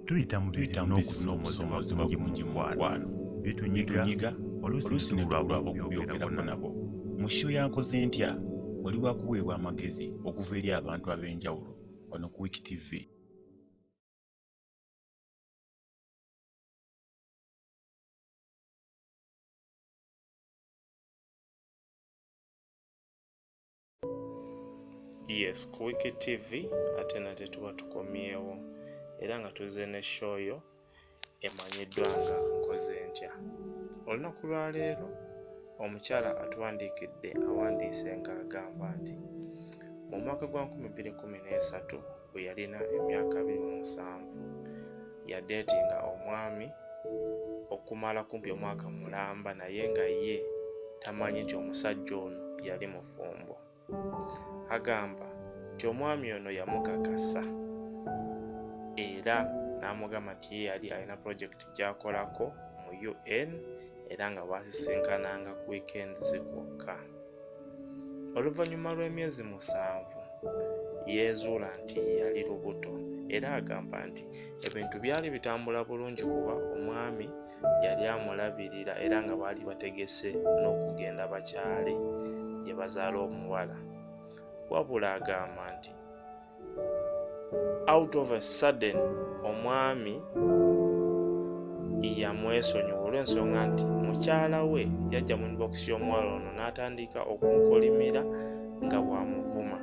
tuyita mu bizibu n'okusoomooza mungi mungi mu mukwano bitunyiga oluusi ne lwabula okubyogerako nabo mu sho yankoze ntya oli wakuweebwa amagezi okuva eri abantu ab'enjawulo wano ku wiki tv yes ku wiki tv ate nate tuba tukomyewo era nga tuze ne show yo emanyiddwa nga nkoze ntya olunaku lwaleero omukyala atuwandiikidde awandiise ng'agamba nti mu mwaka gwa 2013 bwe yalina emyaka abiri mu musanvu yadeetinga omwami okumala kumpi omwaka mulamba naye nga ye tamanyi nti omusajja ono yali mufumbo agamba nti omwami ono yamukakasa era n'amugamba nti ye yali alina pulojekiti gy'akolako mu un era nga baasisinkananga ku wiikendi zikwokka Oluvannyuma lw'emyezi musanvu yeezuula nti yali lubuto era agamba nti ebintu byali bitambula bulungi kuba omwami yali amulabirira era nga baali bategese n'okugenda bakyale gye bazaala omuwala wabula agamba nti out of a sudden omwami yamwesonyiwa olw'ensonga nti mukyala we yajja mu inbox y'omuwala ono n'atandika okunkolimira nga bw'amuvuma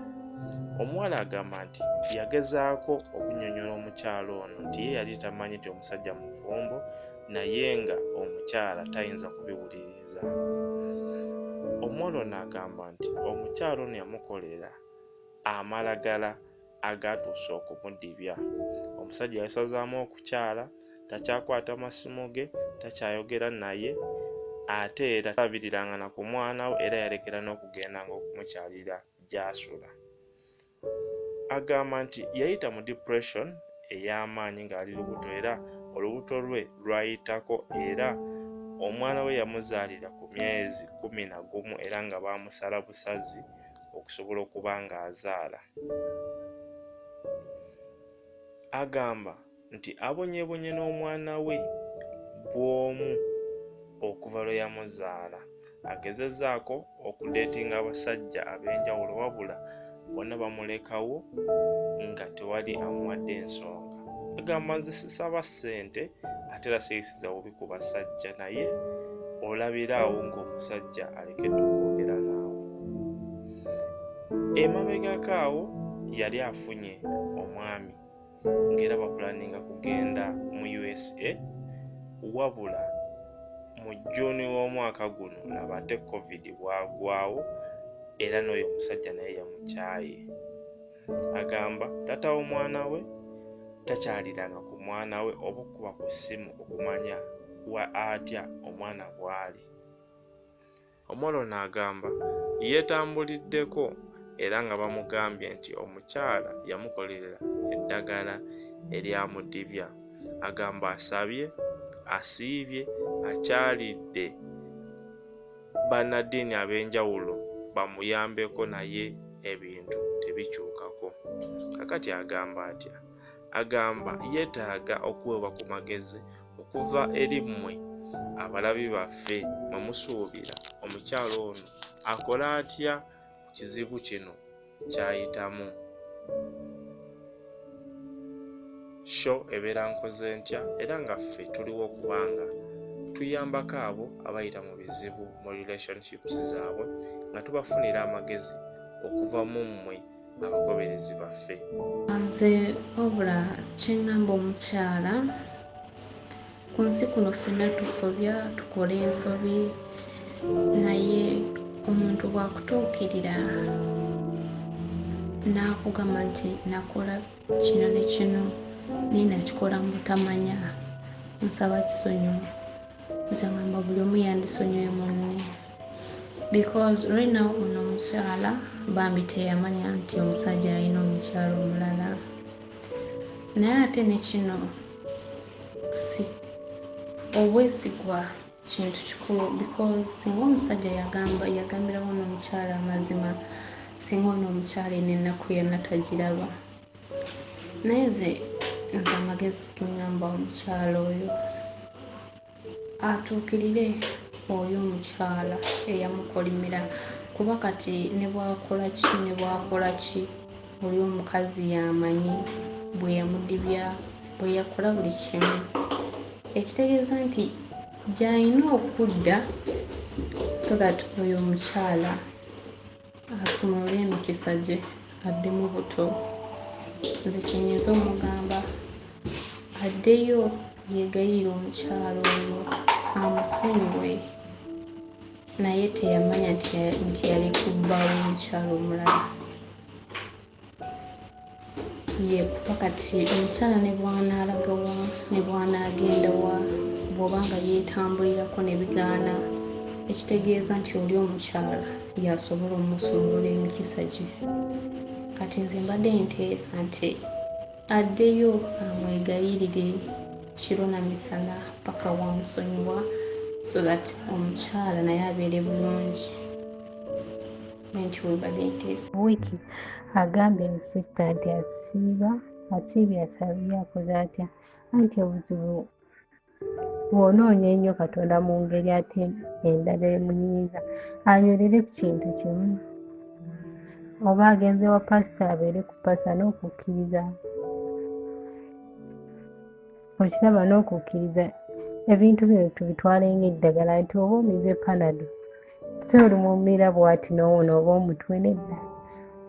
omuwala agamba nti yagezaako okunyonyola omukyala ono nti ye yali tamanyi nti omusajja mufumbo naye nga omukyala tayinza kubiwuliriza omuwala ono agamba nti omukyala ono yamukolera amalagala agaatuusa okumudibya omusajja yasazaamu okukyala takyakwata masimu ge takyayogera naye ate era tabiriranga na ku mwana we era yalekera n'okugendanga okumukyalira gy'asula agamba nti yayita mu depression ey'amaanyi ng'ali lubuto era olubuto lwe lwayitako era omwana we yamuzaalira ku myezi kumi na gumu era nga baamusala busazi okusobola okuba nga azaala agamba nti abonyebonye n'omwana we bw'omu okuva lwe yamuzaala agezezaako okudeetinga abasajja ab'enjawulo wabula bona bamulekawo nga tewali amuwadde ensonga agamba nze sisaba ssente ate era siyisiza bubi ku basajja naye olabira awo ng'omusajja alekedde okwogera naawe emabegako awo yali afunye omwami ng'era bapulaninga kugenda mu usa wabula mu juni w'omwaka guno laba ate covid bwagwawo era n'oyo omusajja naye yamukyaye agamba taata w'omwana we takyaliranga ku mwana we oba okukuba ku ssimu okumanya wa atya omwana bw'ali omwana ono agamba yeetambuliddeko era nga bamugambye nti omukyala yamukolerera eddagala eryamudibya agamba asabye asiibye akyalidde bannaddiini ab'enjawulo bamuyambeko naye ebintu tebikyukako. Kakati agamba atya? Agamba yeetaaga okuweebwa ku magezi okuva eri mmwe abalabi baffe mwe musuubira omukyala ono akole atya ku kizibu kino kyayitamu sho ebeera nkoze ntya era nga ffe tuliwo kubanga tuyambako abo abayita mu bizibu mu relationships zaabwe nga tubafunira amagezi okuva mu mmwe abagoberezi baffe nze obula kyengamba omukyala Ku nsi kuno ffenna tusobya tukola ensobi naye omuntu bwakutuukirira n'akugamba nti nakola kino ne kino naye nakikola mu butamanya nsaba kisonyiwo nze ngamba buli omu yandisonyiwe munne because right now ono omukyala bambi teyamanya nti omusajja alina omukyala omulala naye ate nekino obwesigwa kintu kikulu because singa omusajja yagamba yagambirawo n'omukyala amazima singa ono omukyala eno ennaku yonna tagiraba naye ze nze amagezi genyamba omukyala oyo atuukirire oyo omukyala eyamukolimira kuba kati ne bwakola ki ne bwakola ki oli omukazi yamanyi bwe yamudibya bwe yakola buli kimu ekitegeeza nti gy'alina okudda so that oyo omukyala asumulule emikisa gye adde mu buto nze kyenyinza omugamba addeyo yegayirira omukyalo oyo amusonyiwe naye teyamanya nti yali kubbawo omukyalo omulala yekupa kati omukyala ne bwanaalagawa ne bwanaagendawa bw'oba nga yeetambulirako ne bigaana ekitegeeza nti oli omukyala yasobola omusumulula emikisa gye kati nze mbadde nteesa nti addeyo amwegayirire kiro na misana paka wamusonyiwa so that omukyala naye abeere bulungi wiki agambye nti sisita nti asiiba asiibye asabye akoze atya anti obuzibu bw'onoonya ennyo katonda mu ngeri ate endala emunyiiza anywerere ku kintu kimu oba agenze wa pasita abeere ku pasita n'okukkiriza okiraba n'okukkiriza ebintu bino tubitwale ng'eddagala nti oba omize panado si olumumira bwati n'owona oba omutwe nedda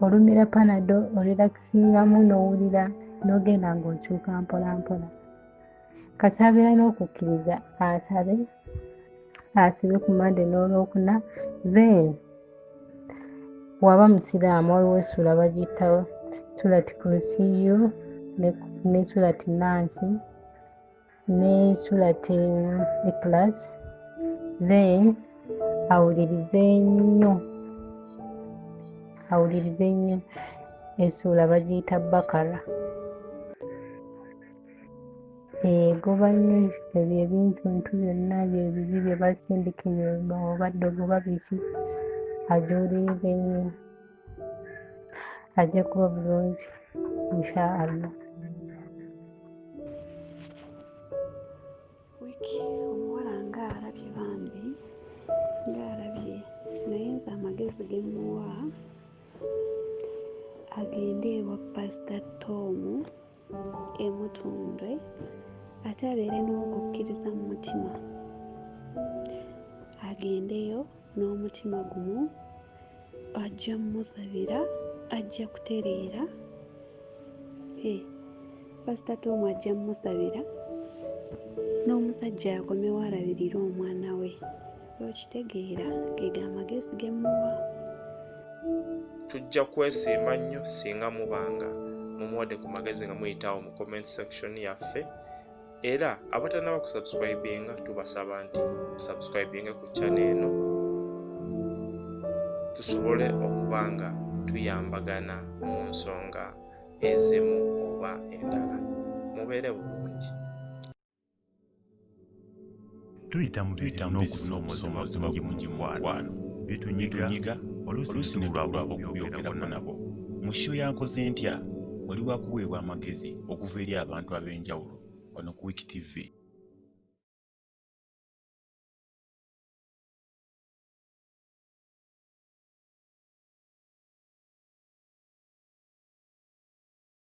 olumira panado olirakisingamu n'owulira n'ogenda ng'okyuka mpolampola kasaabira n'okukkiriza asabe asibe ku mande n'olwokuna then waba musiraamu waliwo essuula bagiyita surati kurusiyu ne surati nansi ne surati ikilas then awulirize nnyo awulirize nnyo essuula bagiyita bakara egoba eh, nnyo ebyo ebintuntu byonna byebibi bye basindika ebyoma obadde ogoba biki ajuuliriza ennyo ajja kuba bulungi insha allah wiki omuwala nga alabye bambi nga alabye naye nze amagezi gemuwa agende ewa pasita tomu e Mutundwe ate abeere n'okukkiriza mu mutima agendeyo n'omutima gumu ajja musabira ajja kutereera eh, pasita tomu ajja musabira n'omusajja akomewo alabirire omwana we okitegeera gega amagezi ge muwa tujja kwesiima nnyo singa mubanga mumuwadde ku magezi nga muyitaawo mu comment section yaffe era abatanaba kusubscribinga tubasaba nti musubscribinge ku channel eno tusobole okuba nga tuyambagana mu nsonga ezimu oba endala mubeere bulungi tuyita mu bizibu n'okusoomoozebwa kungi mu gimukwano bitunyiga oluusi ne lwabulaba okubyogerako nabo mushiyo yankoze ntya wali wakuweebwa amagezi okuva eri abantu ab'enjawulo wano ku wiki tv